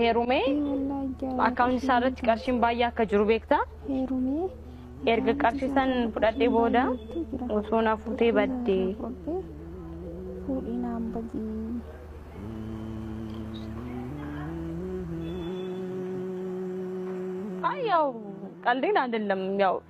heerumee akkaawunti isaa irratti qarshiin baay'ee akka jiru beekta. Erga qarshii san fudhadhee booda osoo na fuutee badde. Ay, yaw, qaldiin ayidallam, yaw.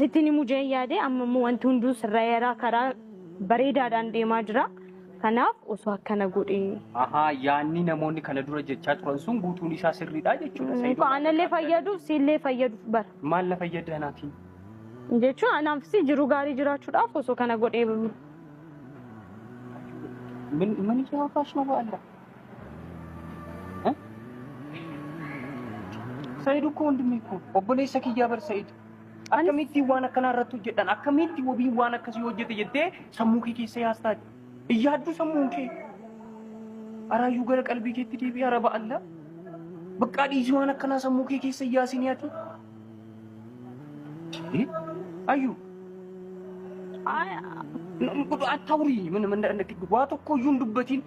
sittiin himuu jeen yaade amma immoo wanti hunduu sirraa'eeraa karaa bareedaadhaan deemaa jira. Kanaaf osoo akkana godhe. Ahaa yaanni namoonni kana dura jechaa turan sun guutuun isaa sirriidha jechuudha. Sayidoon Muka anallee akka- fayyaduuf siillee fayyaduuf bara. Maal na fayyadda anaatiin? Jechuun anaafis jiruu gaarii jiraachuudhaaf osoo kana godhee Min- Mani jawaabaa shuma ba'alla. Said እኮ ወንድሜ እኮ obboleessa kiyyaa bar Said akkamitti waan akkanaa irratti hojjedhan akkamitti wabiin waan akkasii hojjete jettee sammuu kee keessa yaastaati iyyaadduu sammuun kee araayyuu gara qalbii keetti deebi'e araba alla baqqaa dhiisii waan akkanaa sammuu kee keessa iyyaasinii ati ayyu attaawurii waa tokko iyyuu hin dubbatiin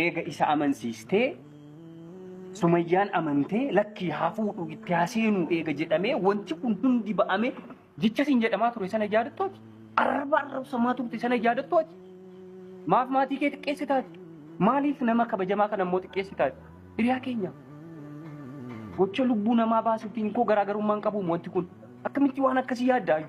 Eega isa amansiistee sumayyaan amantee lakkii haa fuudhu itti haa seenuu eega jedhamee wanti kun hundi ba'ame jecha siin jedhamaa ture sana yaadattooti arraba arrabsamaa turte sana yaadattooti maaf maatii kee xiqqeessitaati maaliif nama kabajamaa kana immoo xiqqeessitaati hiriyaa keenya gocha lubbuu namaa baasuutiin koo garaagarummaan qabuum wanti kun akkamitti waan akkasii yaaddaayyu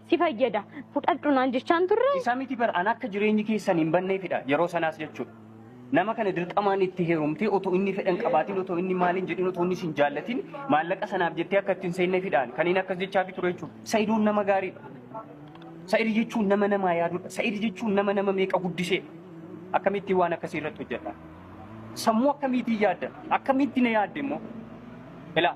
si fayyada fudhadhu naan jechaan turre. Isa miti bar an akka jireenyi keessan hin banneefidha yeroo sanaas jechuudha. Nama kana dirqamaan itti heerumtee otoo inni fedhan qabaatiin otoo inni maaliin jedhin otoo inni sin jaallatin maallaqa sanaaf jettee akka ittiin seennefidhaan kan inni akkas jechaafi ture jechuudha. Sa'idoon nama gaariidha. Sa'id jechuun nama namaa yaadudha. Sa'id jechuun nama nama meeqa guddisee akkamittiin waan akkasii irratti hojjedha. Sammuu akkamiitiin yaadda? Akkamiitti na yaadde immoo? Ilaa.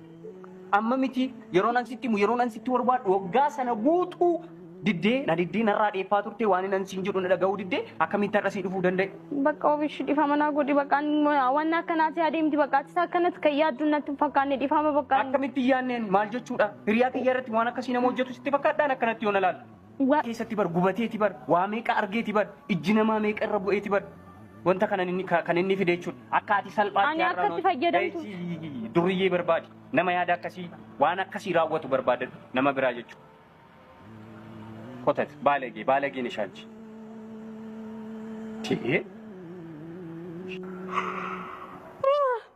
Amma miti yeroo nan sitti himu yeroo nan sitti barbaadu waggaa sana guutuu diddee na diddee narraa dheeffaa turte waan nan siin jedhu na dhaga'uu diddee akkamitti har'a sii dhufuu danda'e. Bakka ofish dhifama naa godhi bakka waan akkanaati adeemti bakka atis akkanatti kan yaaddu natti hin fakkaanne dhifama bakka. Akkamitti yaanneen maal jechuudha? Hiriyaa kiyya irratti waan akkasii nama hojjetu sitti fakkaadhaan akkanatti yoo na laalu. Duwwaa keessatti bar gubateeti bar waa meeqa argeeti bar ijji namaa meeqa irra bu'eeti bar wanta kana inni ka- kan inni fide jechuudha akka ati salphaatti Ani akka itti fayyadamtu. fayyadamtu duriyyee barbaadi nama yaada akkasii waan akkasii raawwatu barbaada nama biraa jechuudha kotat baalagee baalagee nishaanchi Tee.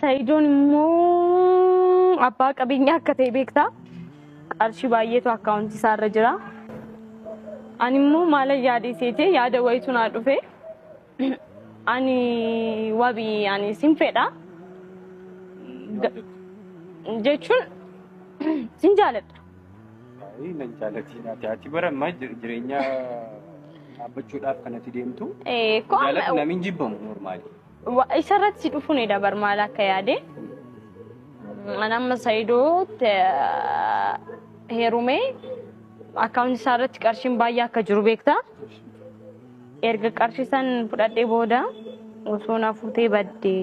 Sa'idoon immoo abbaa qabeenyaa akka ta'e beektaa? Qarshii baay'eetu akkaawuntii isaa irra jira. Ani immoo maalan yaadee seete yaada wayitu naa dhufe. Ani wabi ani sin fedha. Ga- Jechuun sin jaaladha. Baay'ee nan jaalatti naati. Ati bara ammaa jir- jireenya dhaabbachuudhaaf kanatti deemtu. Eh, kun- Jaalatti namiin jibbamu normaali. Wa- isa irratti si dhufuun dabar maal akka yaade an amma sayidoot heerumee akkaawunti isaa irratti qarshiin baay'ee akka jiru beekta erga qarshii san fudhadhee booda osoo na fuutee baddee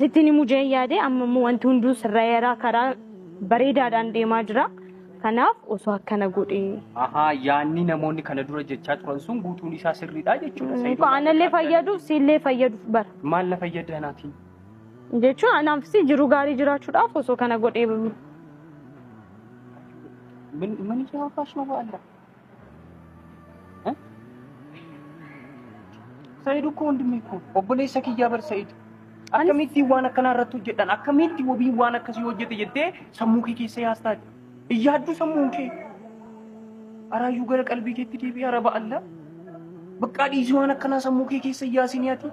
sittiin himuu jeen yaade amma immoo wanti hunduu sirraa'eeraa karaa bareedaadhaan deemaa jira. Kanaaf osoo akkana godhee. Ahaa yaanni namoonni kana dura jechaa turan sun guutuun isaa sirriidha jechuudha. Sayidoon Muka anallee akka fayyaduuf siillee fayyaduuf bara. Maal na fayyada anaatiin? Jechuun anaafis jiruu gaarii jiraachuudhaaf osoo kana godhee Min min jawaabash mawaalaa. Sa'iid ukkoo hundumii koo obboleessa kiyyaa bar Sa'iid. Akkamittiin waan akkanaa irratti hojjedhan akkamitti wabiin waan akkasii hojjete jettee sammuu kee keessa yaastaa iyyaadduu sammuun kee. Araayyuu gara qalbii keetti deebi'ee araba allaa. Baqqaa dhiisii waan akkanaa sammuu kee keessa iyyaasinii ati.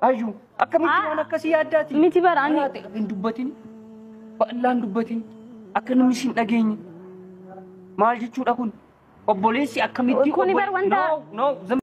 Ayyu akkamitti waan akkasii yaaddaati? Miti bara ani. Maraate hin dubbatin. Bal'aan dubbatin. Akka namni sin dhageenye. Maal jechuudha kun? Obboleessi akkamitti Kuni bar wanta- No, no, zam-